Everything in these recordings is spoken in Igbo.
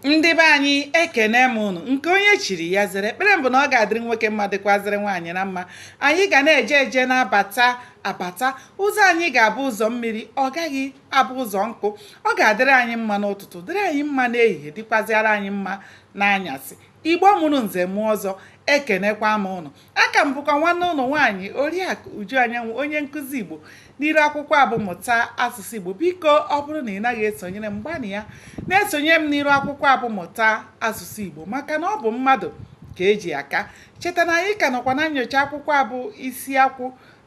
ndị be anyị ekene m unu nke onye chiri ya zere ekpere m bụ na ọ ga-adịrị nwoke mma dịkwazịrị nwaanyị na mma anyị ga na-eje eje na-abata abata ụzọ anyị ga-abụ ụzọ mmiri ọ gaghị abụ ụzọ nkụ ọ ga-adịrị anyị mma n'ụtụtụ dịrị anyị mma n'ehihie dịkwazịara anyị mma n'anyasị igbo mụrụ nze mụọ ọzọ ekenekwa m unu aka m bụkwa nwanne unu nwaanyị oriakụ uju anyanwụ onye nkụzi igbo n'iru akwụkwọ a bụ mụta asụsụ igbo biko ọ bụrụ na ị naghị esonyere m gbanịa na-esonyere m n'iru akwụkwọ a bụ mụta asụsụ igbo maka na ọ bụ mmadụ ka eji aka cheta na anyị ka nọkwa na nyocha akwụkwọ a bụ isi akwụ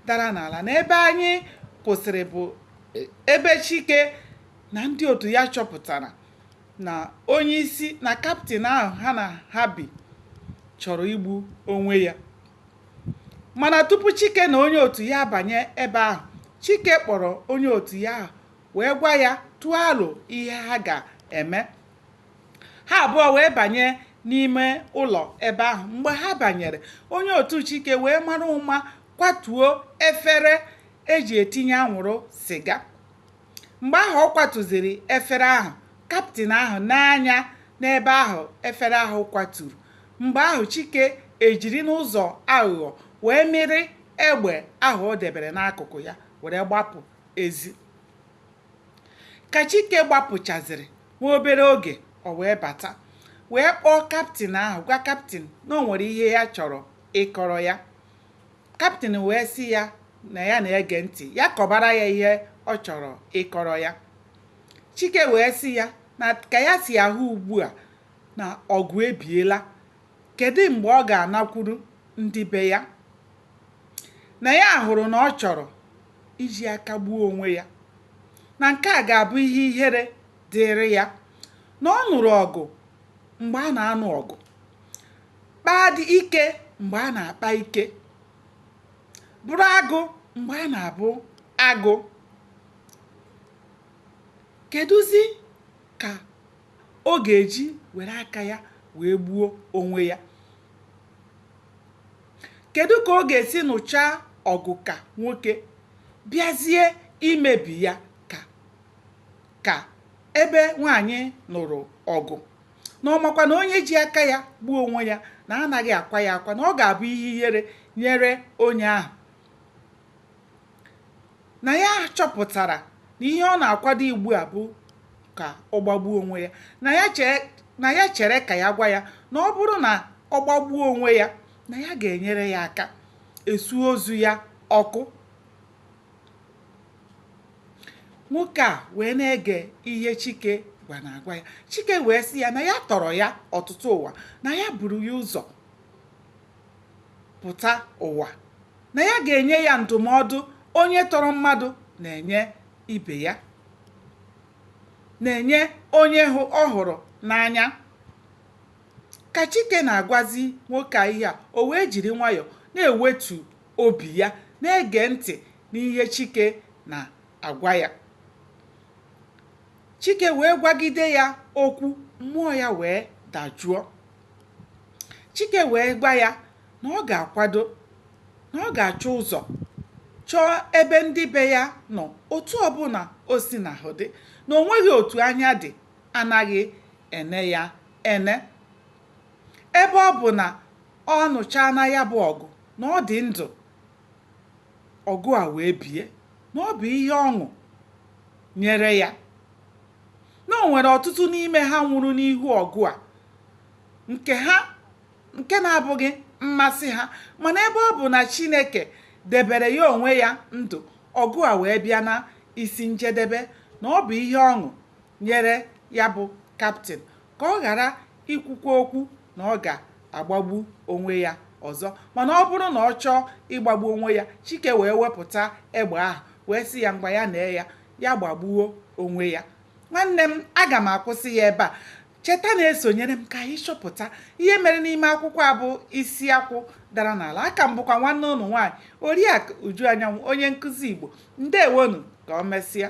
dara n'ala na ebe anyị kwụsịrị bụ e, ebe chike na ndị otu ya chọpụtara na onye isi na kaptịn ahụ ha na ha bi chọrọ igbu onwe ya mana tupu chike na onye otu ya abanye ebe ahụ chike kpọrọ onye otu ya ahụ wee gwa ya tụọ alo ihe ha ga-eme ha abụọ wee banye n'ime ụlọ ebe ahụ mgbe ha banyere onye otu chike wee mara ụma kwatuo efere eji etinye anwụrụ siga Mgbe ahụ ọ kwatuziri efere ahụ. Kaptịn ahụ nee anya n'ebe ahụ efere ahụ kwaturu. Mgbe ahụ Chike ejiri n'ụzọ aghụghọ wee mịrị egbe ahụ o debere n'akụkụ ya were gbapụ ezi. Ka Chike gbapụchazịrị nwa obere oge o wee bata wee kpọọ kaptịn ahụ gwa kaptịn na o nwere ihe ya chọrọ ịkọrọ ya. Kaptịn wee sị ya na ya na-ege ntị, ya kọbara ya ihe ọ chọrọ ịkọrọ ya. Chike wee sị ya na ka ya si ahụ ugbu a na ọgụ ebiela, kedụ mgbe ọ ga-anakwuru ndị be ya? Na ya hụrụ na ọ chọrọ iji aka gbuo onwe ya, na nke a ga-abụ ihe ihere dịịrị ya, na ọ nụrụ ọgụ mgbe a na-anụ ọgụ. kpaa dị ike mgbe a na-akpa ike bụrụ agụ mgbe a na-abụ agụ kedụzi ka ọ ga-eji were aka ya wee gbuo onwe ya kedu ka ọ ga-esi nụchaa ọgụ ka nwoke bịazie imebi ya ka ka ebe nwanyị nụrụ ọgụ na ọ makwa na onye ji aka ya gbuo onwe ya na anaghị akwa ya akwa na ọ ga-abụ ihe ihere nyere onye ahụ na ya chọpụtara na ihe ọ na-akwado ugbu a bụ ka ọ gbagbuo onwe ya na ya chere ka ya gwa ya na ọ bụrụ na ọ gbagbuo onwe ya na ya ga-enyere ya aka esu ozu ya ọkụ nwoke a wee na-ege ihe chike gwa na-agwa ya chike wee sị ya na ya tọrọ ya ọtụtụ ụwa na ya buru ya ụzọ pụta ụwa na ya ga-enye ya ndụmọdụ onye tọrọ mmadụ na-enye ibe ya na-enye onye ọ hụrụ n'anya ka chike na-agwazi nwoke a ihe a o wee jiri nwayọọ na-ewetu obi ya na-ege ntị n'ihe Chike na-agwa ya. Chike wee gwagide ya okwu, mmụọ ya wee dajụọ. Chike wee gwa ya na ọ ga-akwado, na ọ ga-achọ ụzọ chọọ ebe ndị be ya nọ otu ọbụla o si na ahụ dị, na o nweghị otu anya dị anaghị ene ya ene. Ebe ọ bụ na ọ nụchaana ya bụ ọgụ, na ọ dị ndụ, ọgụ a wee bie, na ọ bụ ihe ọṅụ nyere ya na o nwere ọtụtụ n'ime ha nwụrụ n'ihu ọgụ a nke ha nke na-abụghị mmasị ha mana ebe ọ bụ na Chineke debere ya onwe ya ndụ ọgụ a wee bịa na isi njedebe na ọ bụ ihe ọṅụ nyere ya bụ kaptịn ka ọ ghara ikwukwa okwu na ọ ga-agbagbu onwe ya ọzọ mana ọ bụrụ na ọ chọọ ịgbagbu onwe ya Chike wee wepụta egbe ahụ wee sị ya ngwa ya nee ya ya gbagbuo onwe ya nwanne m aga m akwụsị ya ebe a cheta na-esonyere m ka anyị chọpụta ihe mere n'ime akwụkwọ a bụ isi akwụ dara n'ala aka m bụkwa nwanne unu nwaanyị oriakụ uju anyanwụ onye nkụzi igbo ndewonu ka o mesịa